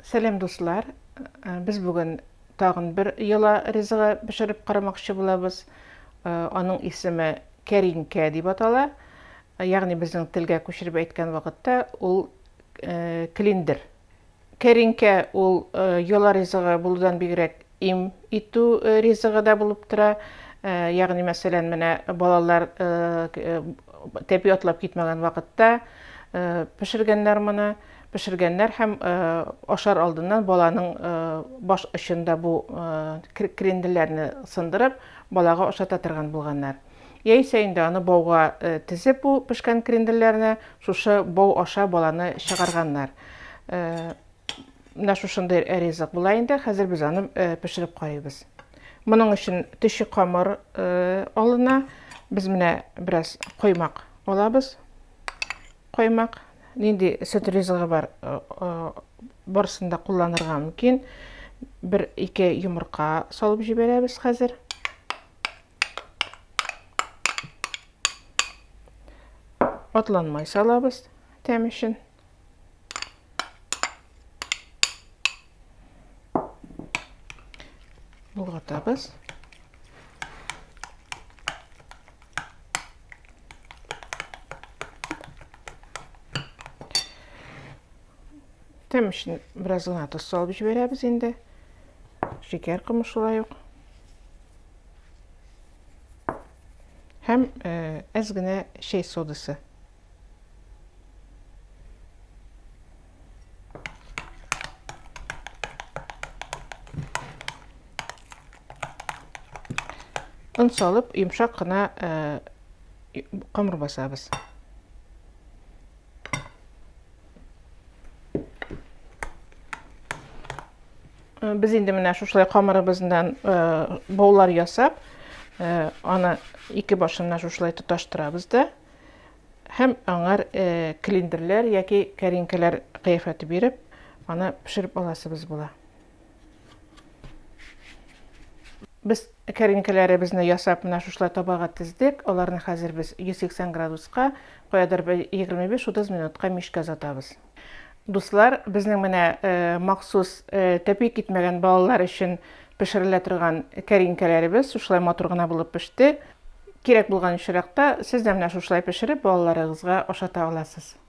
Сәлам дуслар! Без бүген тагын бер йола ризыгы пешереп карамакчы булабыз. Аның исеме кәринкә дип атала. Ягъни безнең телгә күчереп әйткән вакытта ул клиндер. Кәринкә ул йола ризыгы булудан бигрәк им итү ризыгы да булып тора. Ягъни мәсәлән, менә балалар тәпи атлап китмәгән вакытта пешергәннәр моны. Пешергәннәр һәм ашар алдыннан баланың баш очында бу кренделләрне сындырып, балага ашата торган булганнар. Яисә инде аны бауга тезеп бу пешкән кренделләрне шушы бау аша баланы чыгарганнар. Менә шушындый ризык була инде, хәзер без аны пешереп карыйбыз. Моның өчен төче камыр алына. Без менә бераз коймак алабыз. Каймак нинди сөт ризыгы бар, барысын да кулланырга мөмкин. Бер ике йомырка салып җибәрәбез хәзер. Атланмай салабыз тәм өчен. Болгатабыз. Тәм өчен бераз гына тоз салып җибәрәбез инде. Шикәр комы шулай ук. Һәм әз генә чәй содасы. Он салып, йомшак кына камыр басабыз. Без инде менә шушылай камырыбыздан баулар ясап, аны ике башына шушылай тоташтырабыз да. Һәм аңар клиндерләр яки кәринкәләр кыяфәте биреп, аны пешереп аласыбыз була. Без кәринкәләребезне ясап, менә шушылай табага тездек. Аларны хәзер без 180 градуска, каядыр 25-30 минутка мичкә озатабыз. Дуслар, безнең менә махсус тәпи китмәгән балалар өчен пешерелә торган кәринкәләребез шушылай матур гына булып пеште. Кирәк булган очракта сез дә менә шушылай пешереп балаларыгызга ашата аласыз.